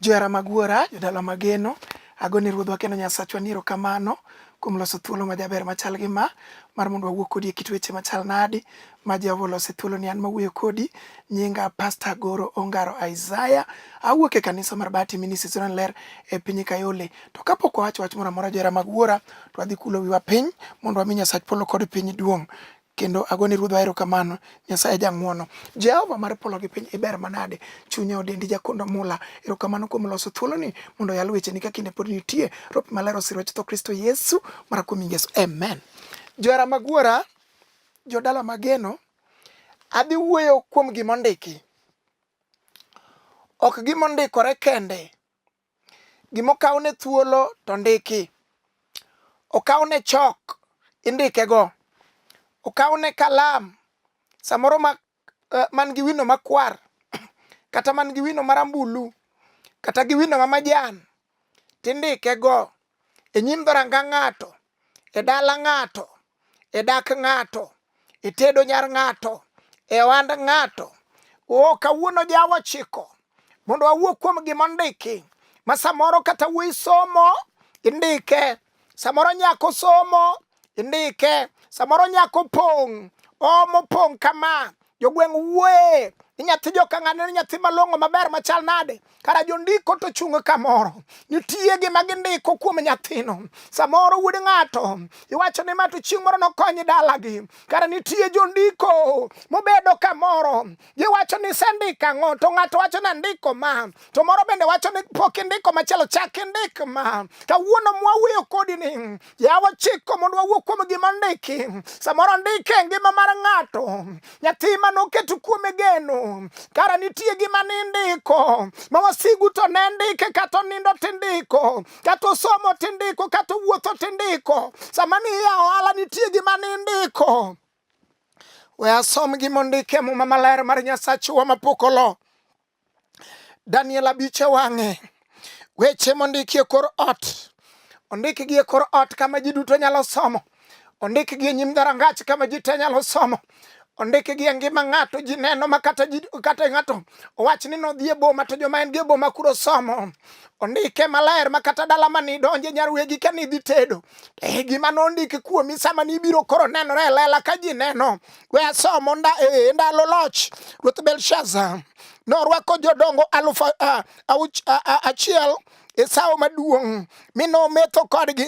Johera mag Wuora, jodala mageno, ago ni Ruodhwa kendo Nyasachwa ni erokamano kuom loso thuolo majaber machal gi ma mar mondo wawuo kodi e kit weche machal nadi ma Jehova oloso e thuoloni. An mawuoyo kodi nyinga Pasta Goro Ongaro Isaiah, awuok e kanisa mar Bahati Ministries Sudan Ler e piny Kayole. To kapok wawacho wach moro amora johera mag Wuora, to wadhi kulo wiwa piny mondo wami Nyasach polo kod piny duong'. kendo agone Ruodhwa erokamano, Nyasaye jang'wono. Jehova mar polo gi piny iber manade, chunya odendi jakondo mula, erokamano kuom loso thuoloni mondo oyal wecheni ka kinde pod nitie, Roho pi maler osir wach tho Kristo Yesu mara kuom nying Yesu, Amen. Johera mag Wuora, jodala mageno, adhi wuoyo kuom gima ondiki, ok gima ondikore kende, Gima okawne thuolo to ndiki. Okawne chok, indikego. Okawne kalam, samoro ma eh, man gi wino makwar, kata man gi wino marambulu, kata gi wino ma majan, tindikego e nyim dhoranga ng'ato e dala ng'ato, e dak ng'ato, e tedo nyar ng'ato, e ohand ng'ato. O kawuono jawa chiko mondo awuo kuom gima ondiki ma samoro kata wuoyi somo indike, samoro nyako somo indike, samoro nyako pong' omo pong' kama jogweng' wuoye ni nyathi jokang'ane ni nyathi malong'o maber machal nade kara jondiko to chung' kamoro nitie gima gindiko kuom nyathino samoro wuod ng'ato iwacho ni mato chieng' moro nokonyi dalagi kara nitie jondiko mobedo kamoro giwacho ni sendiko ang'o to ng'ato wacho ni andiko ma to moro bende wacho ni pok indiko machielo chak indik ma kawuono mwawuoyo kodi ni Yawa chiko mondo wawuo kuom gima ndiki. Samoro ndike e ngima mar ng'ato, nyathi ma noketo kuome geno, kara nitie gima nindiko ma wasigu to ne ndike kata onindo tindiko, kata osomo tindiko, kata owuotho tindiko. Sama niya ohala nitie gima nindiko. We asom gima ondike e Muma Maler mar Nyasachwa mapok olo. Daniel abich e wang'e. Weche mondiki e kor ot, ondikgi e kor ot kama ji duto nyalo somo, ondikgi e nyim dhorangach kama ji te nyalo somo, ondikgi e ngima ng'ato ji neno ma kata ng'ato owach ni nodhi e boma to joma en gi e boma kuro somo ondike maler ma kata dala ma nidonje nyar wegi ka nidhi tedo e gima nondiki kuomi sama nibiro koro nenore e lela ka ji neno We asomo e, e ndalo loch Ruoth Belshaza norwako jodongo alufu achiel e sawo maduong' mi nometho kodgi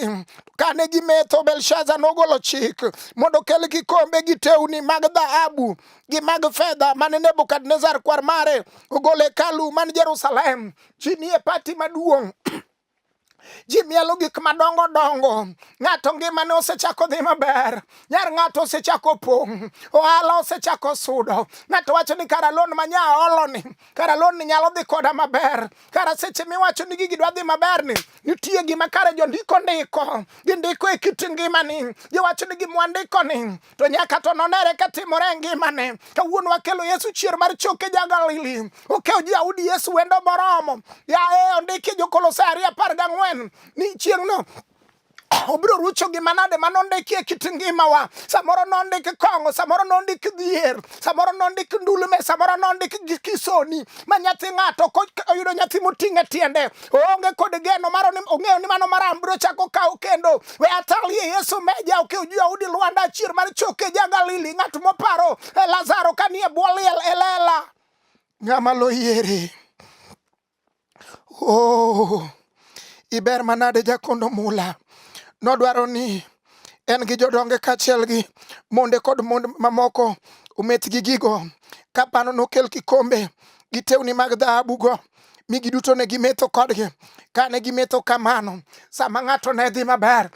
kane gimetho belshaza nogolo chik mondo kel kikombe gi tewni mag dhahabu gi mag fedha mane nebukadnezar kwar mare ogolo hekalu man jerusalem ji nie pati maduong' ji mielo gik madongo dongo ng'ato ngimane osechako dhi maber nyar ng'ato osechako pong' ohala osechako sudo ng'ato wacho ni kara lon ma nya oloni kara lon ni nyalo dhi koda maber kara seche miwacho ni gigi dwa dhi maber ni nitie gima kare jondiko ndiko gindiko e kit ngimani giwacho ni gimwandiko ni to nyaka to nonere ka timore e ngimane. Kawuono wakelo Yesu chier mar choke ja Galili, okewo ji audi Yesu wendo moromo. Ya e ondiki Jokolosai ariyo apar gang'wen ni chieng'no obiro rucho gi manade ma nondiki e kit ngimawa samoro nondik kong'o samoro nondik dhier samoro nondik ndulme samoro nondik kisoni ma nyathi ng'ato oyudo nyathi moting'e tiende oonge kod geno maro ni ong'eyo ni mano maram biro chako kawo kendo we atalie Yesu meja oke okay, ujua udi Luanda chir mar choke ja Galili ng'at moparo e Lazaro kanie bwo liel e lela ng'ama loyiere oh, iber manade jakondo mula nodwaro ni en gi jodonge kaachiel gi monde kod mond mamoko ometh gi gigo kapano nokel kikombe gi tewni mag dhahabugo mi giduto ne gimetho kodgi. Kane gimetho kamano, sama ng'ato ne dhi maber,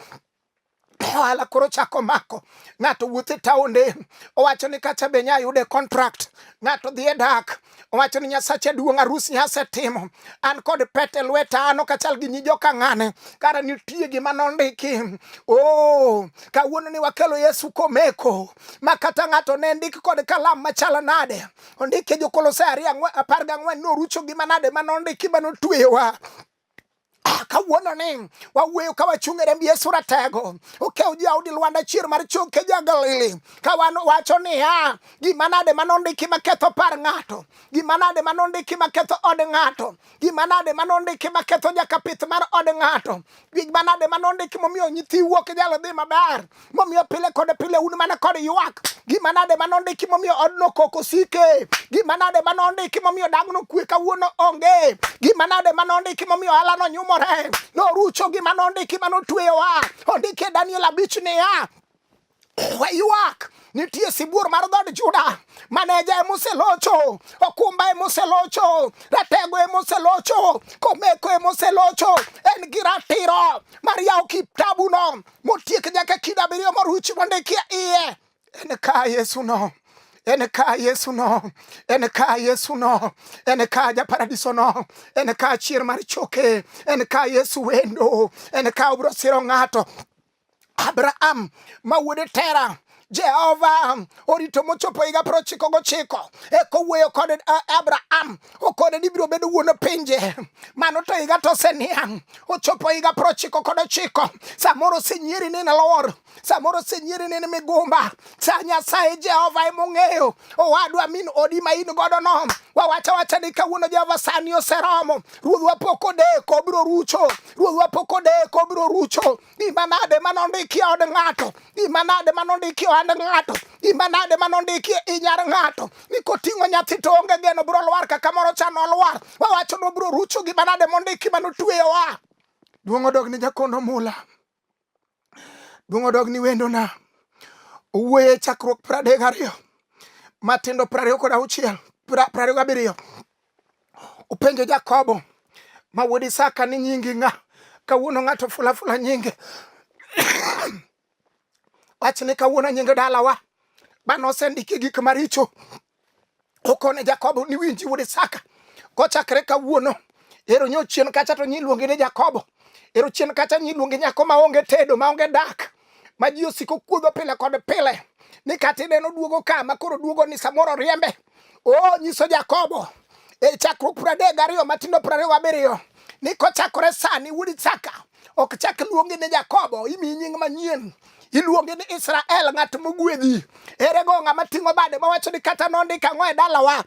ohala koro chako mako ng'ato wuothe taonde owacho ni kacha be nya yude contract ng'ato dhi e dak owacho ni nyasache duong' arus nyase timo an kod pete e lweta an ok achal gi nyi joka ng'ane kara nitie gima nondiki o oh, kawuono ni wakelo yesu komeko ma kata ng'ato ne ndik kod kalam machal nade ondike jokolosai ariyo apar gang'wen norucho gi manade ma nondiki ma notweyowa Ah, kawuono ni wawuoyo ka wachung' e remb yesu ratego okew jaudi lwanda chier mar choke jagalili ka wan wacho niya gima nade ma nondiki maketho par ng'ato gima nade ma nondiki maketho od ng'ato Gima nade ma nondiki ma ketho nyaka pith mar od ng'ato? Gima nade ma nondiki momiyo nyithi wuok nyalo dhi maber? Momiyo pile kod pile un mana kod ywak. Gima nade ma nondiki momiyo odno koko sike? Gima nade ma nondiki momiyo dang'no kwe kawuono onge? Gima nade ma nondiki momiyo alano nyumore? Norucho gima nondiki ma notweyowa. Ondike Daniel abich niya, Waywak nitie sibuor mar dhood Juda, maneja ema oselocho, okumba ema oselocho, ratego ema oselocho, komeko ema oselocho. En gi ratiro mar yawo kitabuno motiek nyaka kido abiriyo moruchi mondikie iye. En ka Yesu no en ka Yesu no, en ka Yesu no, en ka ja paradiso no, en ka chier mar choke, en ka Yesu wendo, en ka obro siro ng'ato Abraham mawuode Tera Jehova um, orito mochopo higa piero ochiko gochiko eka owuoyo kod uh, Abraham okone ni ibiro bedo wuon pinje. Mano to higa to oseniang' ochopo higa piero ochiko kod ochiko. Samoro osenyieri ni nalor, samoro osenyieri ni migumba. Sa Nyasaye Jehova ema ong'eyo owadwa min odi ma in godo no. Wawacha wacha ni kawuono Jehova sani oseromo. Ruodhwa pok odeko obiro rucho. Ruodhwa pok odeko obiro rucho. imanade manondiki od ng'ato imanade manondiki ohand ng'ato imanade manondiki inyar ng'ato ni koting'o nyathi to onge geno biro lwar kaka moro cha nolwar wawacho ni obiro rucho gi manade mondiki manotweyowa duong' odog ni jakondo mula duong' odog ni wendona owuoye chakruok pradek ariyo matindo prariyo kod auchiel prariyo gabiriyo Upenjo Jakobo ma wuod Isaka ni nyingi ng'a? Kawuono ng'ato fulafula nyinge wach ni kawuono nyinge dalawa bana osendiki gik maricho okone Jakobo ni winji wuod Isaka kochakre kawuono ero nyo chien kacha to nyiluonge ni Jakobo ero chien kacha nyiluonge nyako maonge tedo maonge dak ma ji osiko kuodho pile kod pile ni kata ineno duogo ka ma koro duogo ni samoro riembe o nyiso Jakobo e chakruok piero adek gariyo matindo piero ariyo gabiriyo ni kochakore sani wuod Isaka ok chak luongi ni Jakobo imi nying manyien iluonge ni Israel ng'at mogwedhi. Erego ng'ama ting'o bade mawacho ni kata nondika ang'o e dalawa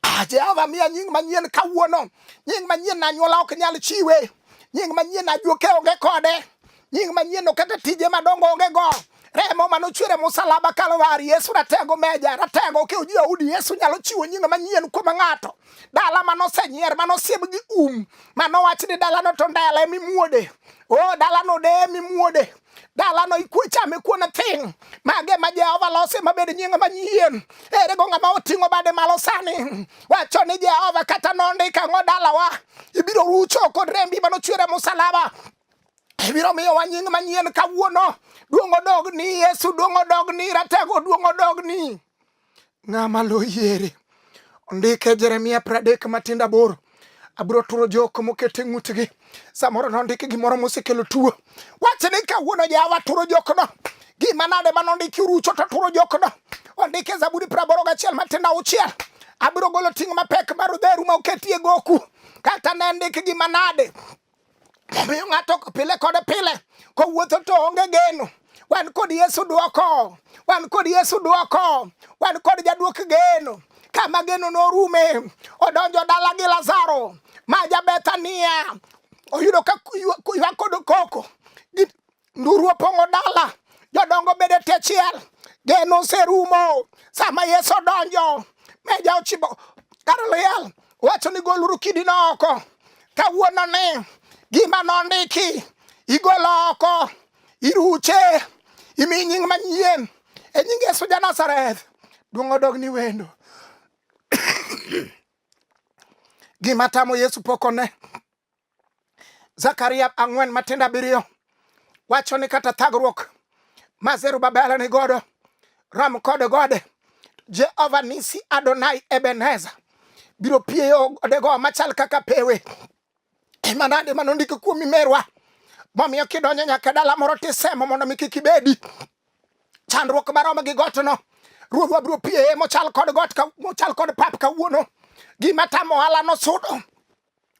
Ah, Jehova miya nying manyien kawuono. Nying manyien na anyuola ok nyal chiwe. Nying manyien na ajuoke onge kode. Nying manyien no kata tije madongo onge go. Remo mane ochwere musalaba Kalvari, Yesu ratego meja, ratego okewo ji udi, Yesu nyalo chiwo nying manyien kuom ng'ato. Dala mane osenyier, mane osieb gi um, mane owach ni dalano to ndela emimuode. O dalano de emimuode. dalano ikuchame kuon thing mage ma jehova losi mabed nying manyien ere go ng'ama oting'o bade malo sani wacho ni jehova kata nondika ng'o dalawa ibiro rucho kod rembi manochwere musalaba ibiro miyowa nying manyien kawuono duong' odog ni yesu duong' odog ni ratego duong' odog ni ng'ama loyiere ondike jeremia pradek matindo aboro abiro turo jok moket e ng'utgi samoro nondiki gimoro mosekelo tuo wache ni kawuono jawa turo jokno gima nade ma nondiki rucho to turo jokno ondike zaburi praboro gachiel matindo auchiel abiro golo ting' mapek mar odheru ma oketie goku kata ne ndikgi manade Omiyo ng'ato pile kod pile kowuotho to onge geno. Wan kod Yesu dwoko, wan kod Yesu dwoko, wan kod jadwok geno. Kama geno norume, odonjo dala gi Lazaro ma ja Bethania, oyudo ka ywak kod koko nduru opong'o dala, jodongo bede tie chiel, geno oserumo. Sama Yesu odonjo, meja ochibo kar liel, wacho ni goluru kidino oko. Kawuono ni gima nondiki igolo oko, iruche, imi nying manyien e nying Yesu ja Nazareth. Duong' odog ni wendo. Gima tamo Yesu pok one. Zakaria ang'wen matindo abiriyo wacho ni kata thagruok ma Zerubabel ni godo rom kod gode Jehova nisi Adonai Ebeneza biro pieyo godego machal kaka pewe ema nade ma nondiki kuomi merwa momiyo kidonjo nyaka e dala moro tisemo mondo mi kik ibedi chandruok marom gi gotno ruodhwa biro pieye mochal kod got ka- mochal kod pap kawuono gima tamo ohala nosudo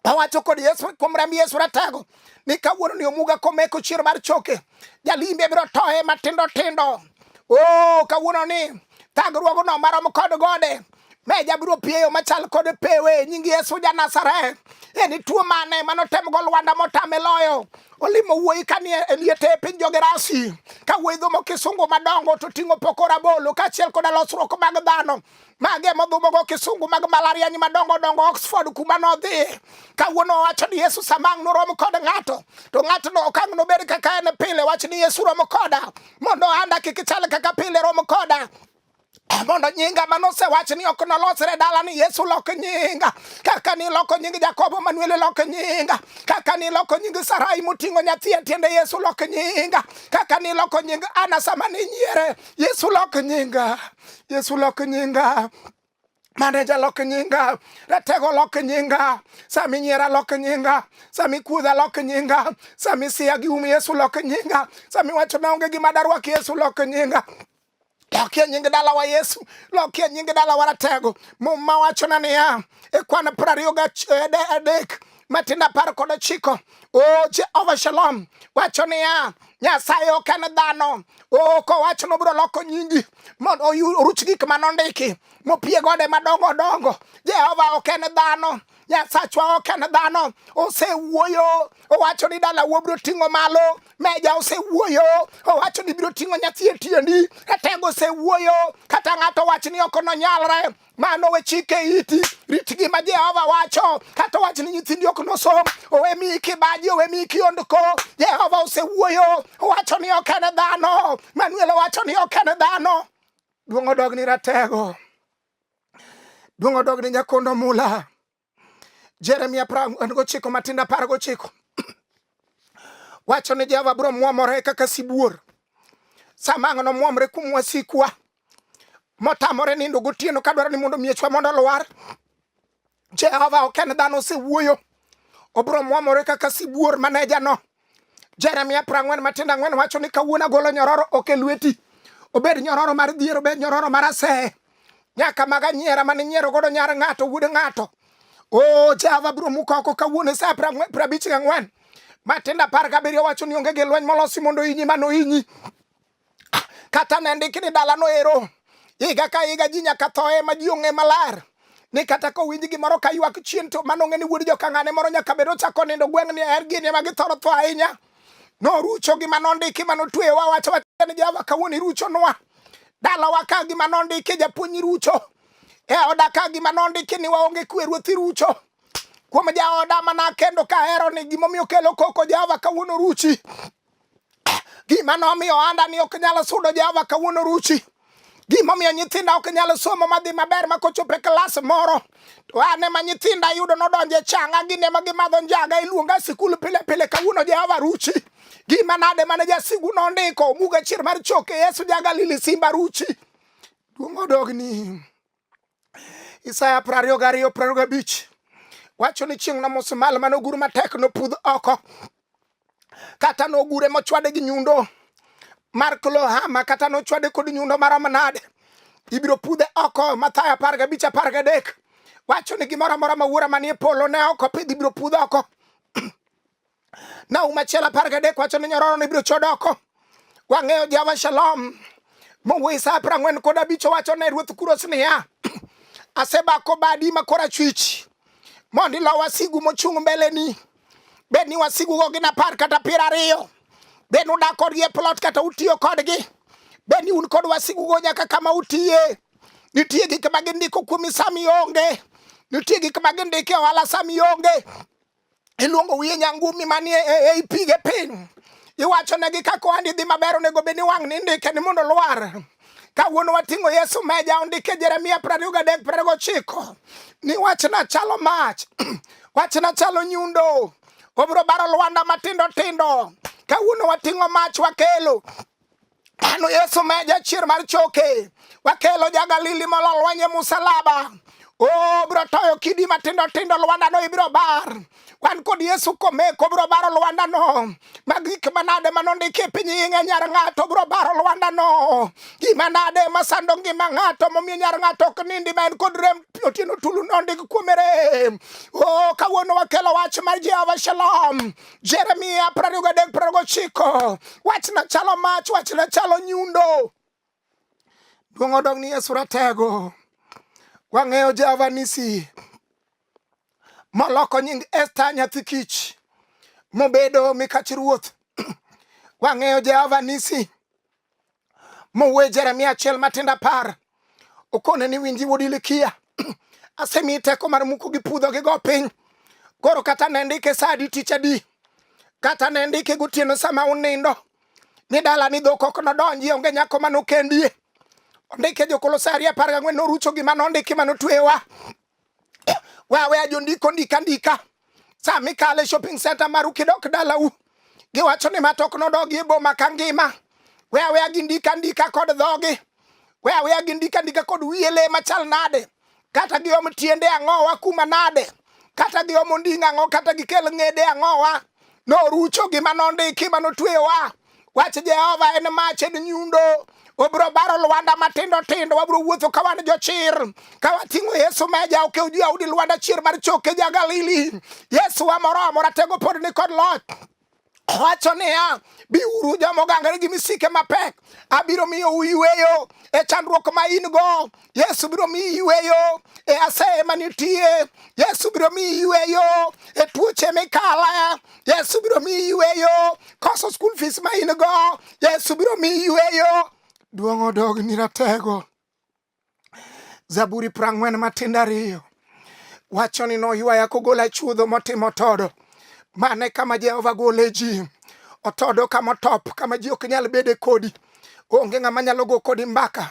Awacho kod Yesu kuom remb Yesu ratego ni kawuono ni omuga komeko chiero mar choke jalimbe biro toye matindo tindo. Oh, kawuono ni thagruogo no marom kod gode me jabiro pieyo machal kod pewe nying Yesu ja Nazareth. En tuo mane manotem go Lwanda motame loyo olimo wuoyi kanie eliete e piny jogerasi ka wuoyi dhomo kisungu madongo to ting'o pokora bolo kaachiel koda losruok mag dhano mage modhumogo kisungu mag malariany madongo dongo Oxford kuma nodhi kawuono owacho ni Yesu samang' norom kod ng'ato to ng'atno okang' nobed kaka en pile wach ni Yesu rom koda mondo anda kik chal kaka pile rom koda mondo nyinga mane osewachi ni ok nolosre dala ni Yesu lok nyinga kaka ni loko nying Jakobo Manuel lok nyinga kaka ni loko nying Sarai moting'o nyathi e tiende Yesu lok nyinga kaka ni loko nying Ana sama ni nyiere Yesu lok nyinga Yesu lok nyinga maneja lok nyinga ratego lok nyinga sami nyiera lok nyinga sami kudha lok nyinga sami siya gi um yesu lok nyinga sami wacho naonge gima darwak yesu lok nyinga lokie nying dalawa yesu lokie nying dalawa ratego mum mawachona niya e kwan prariyo gadek matin apar kod ochiko o jehova shalom wacho niya nyasaye ok en dhano o kowacho nobiro loko nyingi mondo oruch gik ma nondiki mopie gode madongo dongo jehova ok en dhano nyasachwa ok en dhano osewuoyo owacho ni dala wuo biro ting'o malo meja osewuoyo owacho ni biro ting'o nyathi e tiendi etego osewuoyo kata ng'ato wach ni ok nonyalre Mano we chike iti, rit gima Jehova wacho, kata wach ni nyithindi ok nosom, owe miyi kibaji, owe miyi kiondko. Jehova osewuoyo, owacho ni ok en dhano. Manuel owacho ni ok en dhano. Duong' odog ni ratego, duong' odog ni nyakondo mula. Jeremia apar gochiko Matindo apar gochiko wacho ni Jehova biro mwomore kaka sibuor sama ang'o nomwomre kuom wasikwa motamore nindo gotieno ka dwaro ni mondo miechwa mondo olwar. Jehova ok en dhano osewuoyo, obiro mwomore kaka sibuor manejano Jeremia prang'wen matindo ang'wen wacho ni kawuono agolo nyororo ok e lweti obed nyororo mar dhier obed nyororo mar aseye nyaka maga nyiera mane nyiero godo nyar ng'ato wuod ng'ato o oh, jehova biro mukoko kawuono sa prabich gang'wen matindo apar gabiriyo wacho ni onge gi lweny molosi mondo inyi mano inyi Kata ne ndiki ni dalano ero higa ka higa ji nyaka thoe ma ji ong'e maler ni kata kowinj gimoro ka ywak chien to mano ng'e ni wuod jokang'ane moro nyaka bed ochako nindo gweng' ni er gini ema githoro tho ahinya norucho gima nondiki ma notweyowa wacho wacho ni jehova kawuono iruchonwa dalawa ka gima nondiki japuonj irucho e oda ka gima nondiki ni waonge kwe ruoth irucho kuom jaoda mana kendo kahero ni gimomiyo kelo koko jehova kawuono ruchi Gima nomiyo ohanda ni ok nyal sudo Jehova kawuono ruchi. Gimomiyo nyithinda ok nyal somo madhi maber ma kochopo e klas moro to an ema nyithinda yudo nodonje changa gin ema gimadho njaga iluonga sikul pile pile kawuono Jehova ruchi. Gima nade mane jasigu nondiko muga chier mar choke Yesu ja Galili simba ruchi. Duong' odogni. Isaya prariyo gariyo prariyo gabich wacho ni chieng' nomoso malo mane ogur matek nopudh oko kata nogure mochwade gi nyundo mar klohama kata nochwade kod nyundo marom nade ibiro pudhe oko mathayo apar gabich apar gadek wacho ni gimoro amora ma wuora manie polo ne oko pidh ibiro pudh oko na umachielo apar gadek wacho ni nyororo ni biro chodoko wang'eyo jawa shalom mowuoyi sa apar ang'wen kod abich owacho ne ruoth kuros niya asebako badi ma korachwich mondo ilo wasigu mochung' mbeleni bed ni wasigugo gin apar kata piero ariyo bed ni udak kodgi e plot kata utiyo kodgi bed ni un kod wasigugo nyaka kama utiye nitie gik ma gindiko kuomi sami onge nitie gik ma gindiko e ohala sami onge iluongo wiye nyangumi manie e, e, ei pige piny iwachonegi ka kohandi dhi maber onego bed ni wang' ni ndike ni mondo lwar kawuono wating'o yesu meja ondike jeremia prariyo gadek prariyo gochiko ni wachna chalo mach wachna chalo nyundo obiro baro lwanda matindo tindo kawuono wating'o mach wakelo Pano Yesu meja chier mar choke, wakelo ja Galili mololwanye musalaba Oh, bro toyo kidi matindo tindo Luanda no ibiro bar. Wan kod Yesu komeko bro baro Luanda no. Mag gik manade manondiki e piny ing'e nyar ng'ato bro baro Luanda no. Gima nade masando ngima ng'ato momiyo nyar ng'ato ok nindi ma en kod rem otieno tulu nondik kuomere. Oh, kawuono wakelo wach mar Jehova Shalom. Jeremia prariyo gadek prariyo gochiko wachna chalo mach wachna chalo nyundo duong' odog ni Yesu ratego wang'eyo Jehova nisi moloko nying Esta nyathi kich mobedo mikach ruoth wang'eyo Jehova nisi mowuoye Jeremia achiel matindo apar okone ni winji wuod Ilikia asemiyi teko mar muko gi pudho gi go piny koro kata ne ndike sa adi tich adi kata ne ndike gotieno sama unindo ni dala ni dhok ok nodonji onge nyako manokendie ondike jokolosaria apar gang'wen norucho gima nondiki manotwewa Wawe ajondiko ndika ndika. Sama ikale shopping center maru kidok dalau. Giwacho ni matok nodogi e boma ka ngima. We aweya gi ndika ndika kod dhogi. We aweya gi ndika ndika kod wiye le machal nade. Kata giom tiende ang'owa kuma nade. Kata giom onding' ang'o kata gikel ng'ede ang'owa. Norucho gima nondiki manotweyowa. Wach Jehova en mach en nyundo obiro baro lwanda matindo tindo wabiro wuotho ka wan jochir ka wating'o yesu ma ja okew ji audi lwanda chier mar choke ja galili yesu wa moro amora tego pod ni kod loch wacho niya biuru joma ogangore gi misike mapek abiro miyo uyweyo e chandruok ma in go Yesu biro miyi yweyo e aseye ma nitie. Yesu biro miyi yweyo e tuoche mikala. Yesu biro miyi yweyo koso school fees ma in go. Yesu biro miyi yweyo. Duong' odog ni ratego. Zaburi prang'wen matindo ariyo wacho ni noywaya kogola chuodho motimo todo. Mane kama Jehova gole ji. Otodo kama otop kama ji ok nyal bede kodi. Onge ng'ama nyalo go kodi mbaka.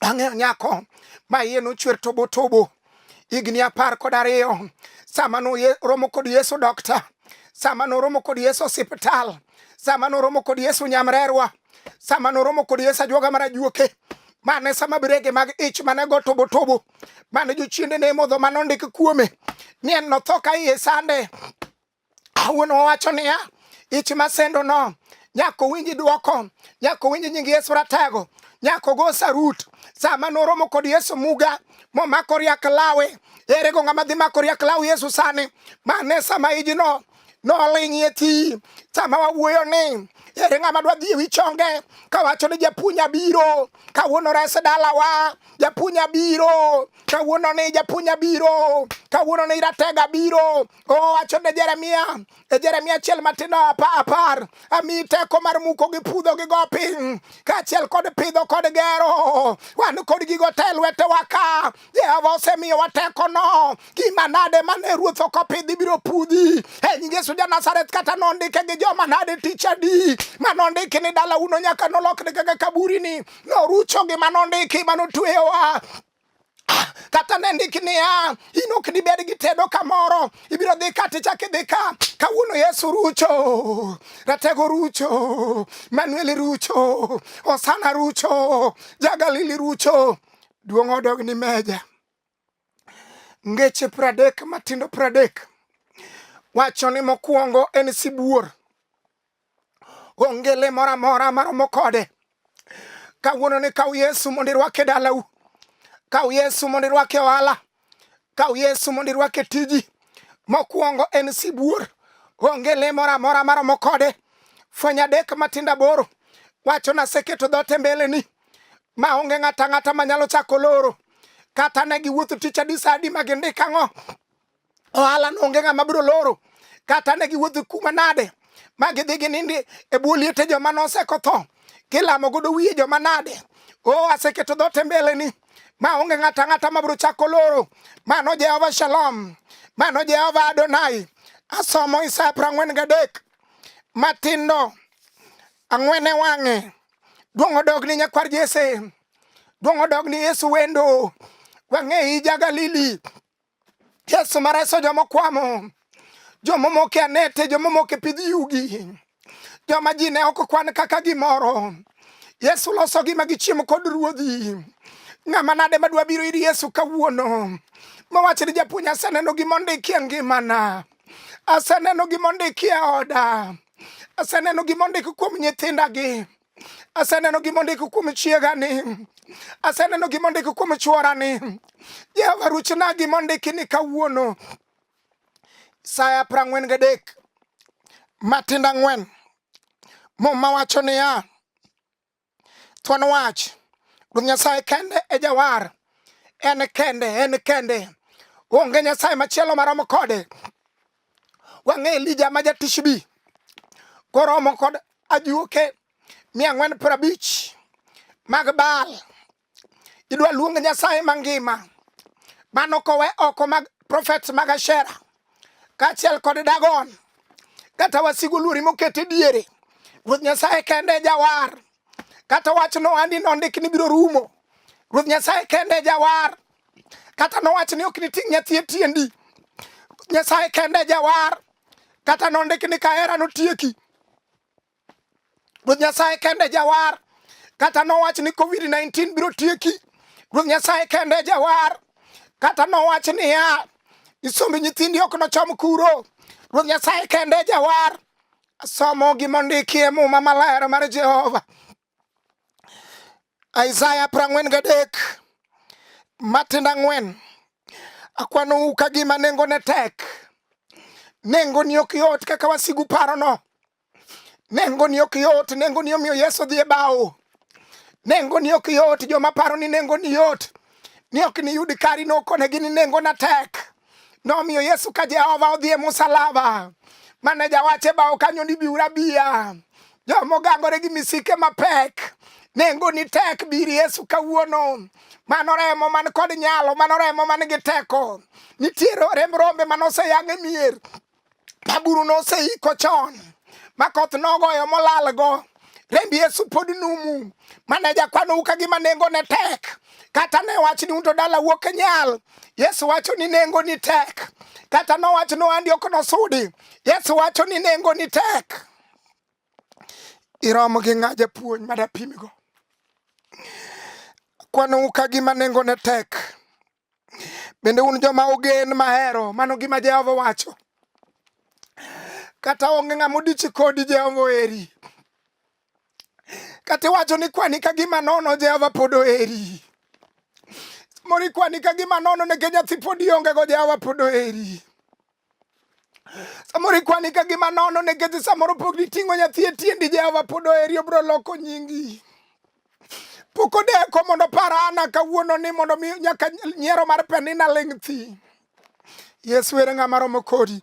Ang'eyo nyako ma iye nochwer tobo tobo higni apar kod ariyo sama noromo kod Yesu dokta, sama noromo kod Yesu osiptal, sama noromo kod Yesu nyamrerwa, sama noromo kod Yesu ajuoga mar ajuoke mane sama birege mag ich mane go tobo tobo mane jochiende ne modho mane ondik kuome ni en notho ka iye sande Wuon wawacho niya, ich masendo no nyaka owinj dwoko, nyaka owinj nying Yesu Ratego, nyaka ogo sarut. Sama noromo kod Yesu Muga momako riak lawe, ere go ng'ama dhi mako riak law Yesu sani? Mane sama ijno noling'ie ti. Sama wawuoyo ni ere ng'ama dwa dhi ewi chonge kawacho ni japuonj abiro kawuono rese dalawa japuonj abiro kawuono ni japuonj abiro kawuono ni ratega biro Owacho ne Jeremia e Jeremia achiel matindo apa apar ami teko mar muko gi pudho gi go piny kaachiel kod pidho kod gero wan kod gigo te lwetewa ka Jehova osemiyowa tekono gima nade mane ruoth ok opidhi biro pudhi e nying Yesu ja Nazareth kata nondike gi joma nade tich adi manondiki ni dala uno nyaka nolokne kaka kaburini norucho gi manondiki manotueyowa kata ne ndik niya, in ok dibed gi tedo kamoro, ibiro dhi ka tichak idhi ka. Kawuono Yesu rucho, Ratego rucho, Manuel rucho, Osana rucho, Jagalili rucho, duong' odog ni meja. Ngeche pradek matindo pradek wacho ni mokwongo en sibuor, Onge le moro amora maromo kode. Kawuono ni kaw Yesu mondo irwake dalau. Kaw Yesu mondo irwake ohala. Kaw Yesu mondo irwake tiji. Mokwongo en sibuor. Onge le moro amora maromo kode. Fweny adek matindo aboro wacho naseketo dhote mbeleni ma onge ng'ata ng'ata manyalo chako loro kata ne giwuotho tich adisadi ma gindik ang'o ohala no onge ng'ama biro loro kata ne giwuotho kuma nade ma gidhi ginindi e bwo liete joma nosekotho kilamo godo wiye joma nade o oh, aseketo dhote mbeleni ma onge ng'ata ang'ata ma biro chako loro mano jehova shalom mano jehova adonai asomo isaya piero ang'wen gadek matindo ang'wen e wang'e duong' odog ni nyakwar jese duong' odog ni yesu wendo wang'e ija galili Yesu mareso joma okwamo, joma omoko e anete, joma omoko e pidh yugi, joma ji ne ok kwan kaka gimoro. Yesu losogi ma gichiemo kod ruodhi. Ng'ama nade madwa biro ir Yesu kawuono mowach ni japuonj, aseneno gima ondiki e ngimana, aseneno gima ondiki e oda, aseneno gima ondiki kuom nyithindagi Aseneno gima ondiko kuom chiega ni, aseneno gima ondiko kuom chwora ni. Jehova ruchna gima ondiki ni kawuono saa apar ang'wen gadek matindo ang'wen muma wacho niya, thuon wach Ruoth Nyasaye kende e jawar, en kende, en kende, onge Nyasaye machielo maromo kode. wang'e Elija ma jatishbi koromo kod ajuoke mia ang'wen piero abich mag Baal. Idwa luong Nyasaye mangima mano kowe oko mag profet mag Ashera kaachiel kod Dagon kata wasigu luori mokete diere. Ruoth Nyasaye kende jawar kata wach nohandi nondik ni biro rumo. Ruoth Nyasaye kende jawar, kata nowach ni ok niting' nyathi e tiendi. Nyasaye kende jawar, kata nondik ni kahera notieki. Ruoth Nyasaye kende jawar, kata nowach ni Covid-19 biro tieki. Ruoth Nyasaye kende jawar, kata nowach niya, isombe nyithindi ok nochom kuro. Ruoth Nyasaye kende jawar, Somo gima ondiki e Muma Maler mar Jehova. Isaya prang'wen gadek matindo ang'wen akwanou ka gima nengone tek nengoni ok yot kaka wasigu parono nengoni ok yot nengoni omiyo yesu dhi e bawo nengoni ok yot joma paro ni nengoni yot ni ok niyud kari nokonegi ni nengona tek nomiyo Yesu ka Jehova odhi e musalaba mane jawache bao kanyo ni biura biya jomo gangore gi misike mapek nengo ni tek bir Yesu kawuono mano remo man kod nyalo mano remo man gi teko nitiere remb rombe manoseyang' e mier ma buru noseiko chon ma koth nogoyo molalgo remb yesu pod numu mane jakwanou ka gima nengo ne tek kata ne wach ni unto dala wuok e nyal yesu wacho ni nengo ni tek kata nowach ni ohandi ok nosudi yesu wacho ni nengo ni tek irom gi ng'a japuonj madapimigo kwanou ka gima nengo ne tek Bende un joma ogen mahero, mano gima Jehova wacho. Kata onge ng'ama odichi kodi, Jehova oheri. Kata iwacho ni kwani ka gima nono, Jehova pod oheri. Mori kwani ka gima nono nikech nyathi pod iongego, Jehova pod oheri. Samoro ikwani ka gima nono nikech samoro pok niting'o nyathi e tiendi Jehova pod oheri obro loko nyingi. Pok odeko mondo par Ana kawuono ni mondo mi nyaka nyiero mar Penina ling' thi. Yesu ere ng'ama romo kodi.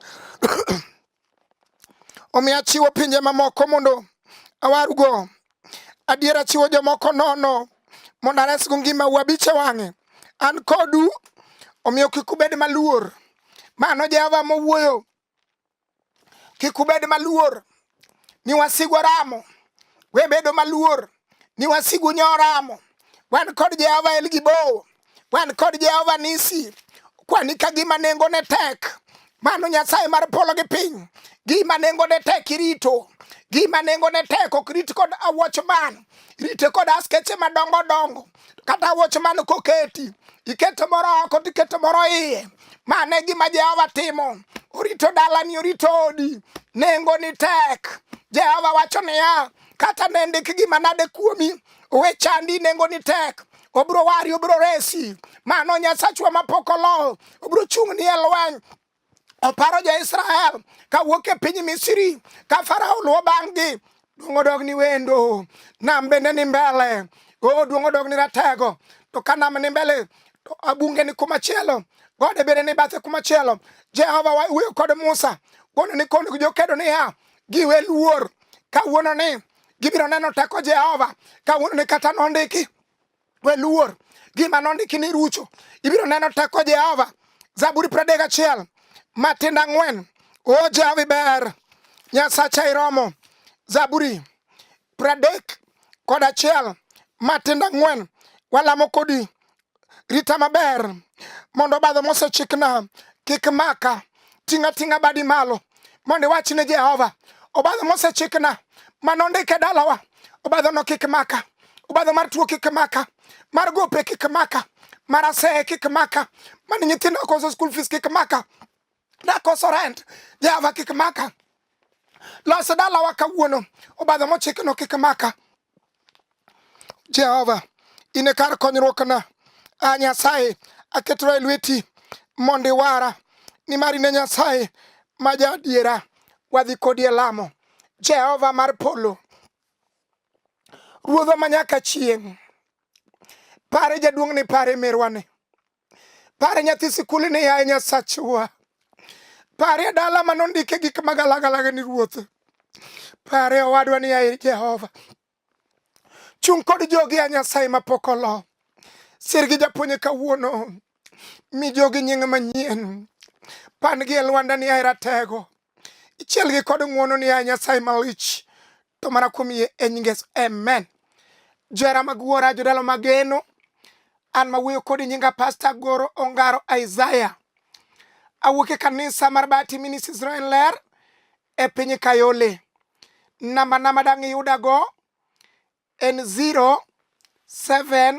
Omiyo achiwo pinje mamoko mondo awarugo Adiera chiwo jomoko nono mondo aresgo ngima wabiche wang'e. An kodu, omiyo kik ubed maluor. Mano Jehova mowuoyo. Kik ubed maluor ni wasigu oramo. We bedo maluor ni wasigu nyoramo. Wan kod Jehova El Gibowo. wan kod Jehova Nisi, kwani ka gima nengone tek, mano Nyasaye mar polo gi piny, gima nengone tek irito, gima nengone tek ok rit kod awuoch man, rite kod askeche madongo dongo, kata awuoch man koketi, iketo moro oko to iketo moro iye. Mano e gima Jehova timo, orito dalani, orito odi, nengoni tek. Jehova wacho niya, kata ne ndik gima nade kuomi, we chandi, nengoni tek obiro wari obiro resi mano nyasachwa mapok oloho obiro chung'ni e lweny oparo jo-israel ka wuok e piny misri ka farao luwo bang'gi duong' odog ni wendo nam bende ni mbele o duong' odog ni ratego to ka nam ni mbele to abunge ni kumachielo gode bende ni bathe kumachielo jehova wuoyo kod musa wuono ni kono jokedo niya giwe luor kawuono ni Gibiro neno teko Jehova kawuono ni kata nondiki we luor gima nondiki ni rucho. Ibiro neno teko Jehova. Zaburi pradek gachiel matindo ang'wen. O Jehova iber, Nyasacha iromo. Zaburi pradek kod achiel matindo ang'wen walamo kodi Rita maber mondo obadho mosechikna kik maka. Ting'a ting'a badi malo mondo iwach ne Jehova obadho mosechikna mano ndike dalawa. Obadhono kik maka, obadho mar tuo kik maka, mar gope kik maka, mar aseye kik maka, mani nyithindo koso school fees kik maka, nakoso rent Jehova kik maka. Los dalawa kawuono, obadho mochikno kik maka. Jehova, in e kar konyruokna. A Nyasaye, aketora e lweti mondo iwara, nimar in e Nyasaye ma jaadiera. Wadhi kodi e lamo. Jehova mar polo, Ruodhwa ma nyaka chieng', pare jaduong'ni, pare merwani. Pare nyathi sikul ni yaye Nyasachwa. Pare dala ma nondike gik magalagalaga ni ruoth. Pare owadwa ni yaye Jehova. Chung' kod jogi ya Nyasaye ma pok olo. Sir gi japuonye kawuono. Mi jogi nying manyien. Pan gi e lwanda ni yaye Ratego. ichielgi kod ng'wono ni a Nyasaye malich to mana kuom yie e nying Yesu amen. Jera mag wuora jodalo mageno an mawuoyo kodi nyinga Pastor Goro Ongaro Isaiah awuok e kanisa mar Bati Ministry Israel Ler e piny Kayole namba nama dang' iyudago en 07